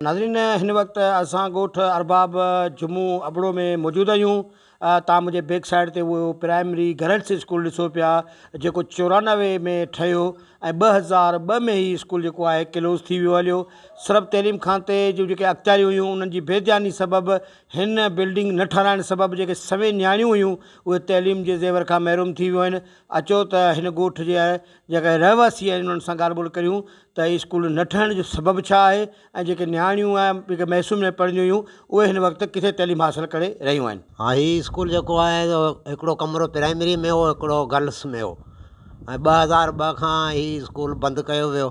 ناظرين هن وقت اسان ڳوٺ ارباب جمون ابڙو ۾ موجود آهيون تان منهنجي بيڪ سائيڊ تي اهو پرائمري گرلس اسڪول ڏسو پيا جيڪو چورانوي ۾ ٺهيو ۽ ٻه هزار ٻه ۾ هي اسڪول جيڪو آهي ڪلوز ٿي ويو هليو سرب تعليم کاتي جون جيڪي اختياريون هيون انهن جي بي دياني سبب هن بلڊنگ نه ٺهرائڻ سبب جيڪي سوين نياڻيون هيون اهي تعليم جي زيور کان محروم ٿي ويون آهن اچو ته هن ڳوٺ جي جيڪڏهن رهواسي انهن سان ڳالهه ٻولهه ڪريون ته هي اسڪول نه ٺهڻ جو سبب ڇا آهي ۽ جيڪي نياڻيون آهي جيڪي محسن ۾ پڙهنديون هيون اهي هن وقت ڪٿي تعليم حاصل ڪري رهيون آهن. ها هي اسڪول جيڪو آهي سو هڪڙو ڪمرو پرائمري ۾ هو هڪڙو گرلس ۾ هو ۽ ٻه هزار ٻه کان هي اسڪول بند ڪيو ويو.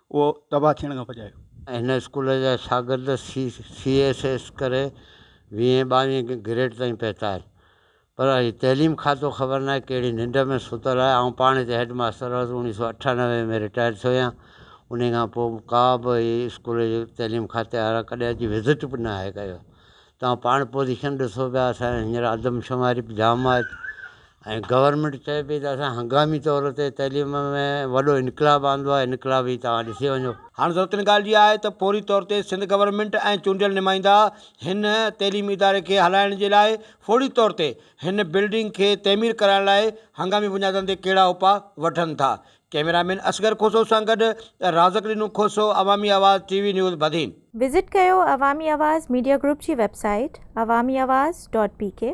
اهو تباهه ٿيڻ کان بچايو. هن اسڪول جا شاگرد سي سي ايس ايس ڪري ويهين ٻاويهين گريڊ تائين پهتا آهن پر هي تعليم کاتو خبر ناهي ڪهڙي ننڊ ۾ ستل آهي آئون پاڻ هتي هيڊ ماستر هئس اوڻيهه سؤ اٺانوي ۾ رٽائر ٿيو آهيان انهي کان پوء ڪا به هي اسڪول جي تعليم کاتي وارا ڪڏهن اچي وزٽ به ناهي ڪيو توهان پاڻ پوزيشن ڏسو پيا اسان ھينئر آدمشماري به جام آھي ۽ گورنمينٽ چئي پئي ته اسان ھنگامي طور تي تعليم ۾ وڏو انقلاب آندو آھي انقلاب ھي توهان ڏسي وڃو. ھاڻ ضرورت ان ڳالھه جي آھي ته فوري طور تي سنڌ گورنمينٽ ۽ چونڊيل نمائندا ھن تعليمي اداري کي ھلائڻ جي لاء فوري طور تي ھن بلڊنگ کي تعمير ڪرائڻ لاء ھنگامي بنيادن تي ڪھڙا اپاء وٺن ٿا ڪيميرا مين اصغر کوسو سان گڏ رازق ڏنو Khoso, Awami Awaz T V news Badin. Visit ڪيو عوامي آواز ميڊيا گروپ جي website Awami Awaz dot P ڪي.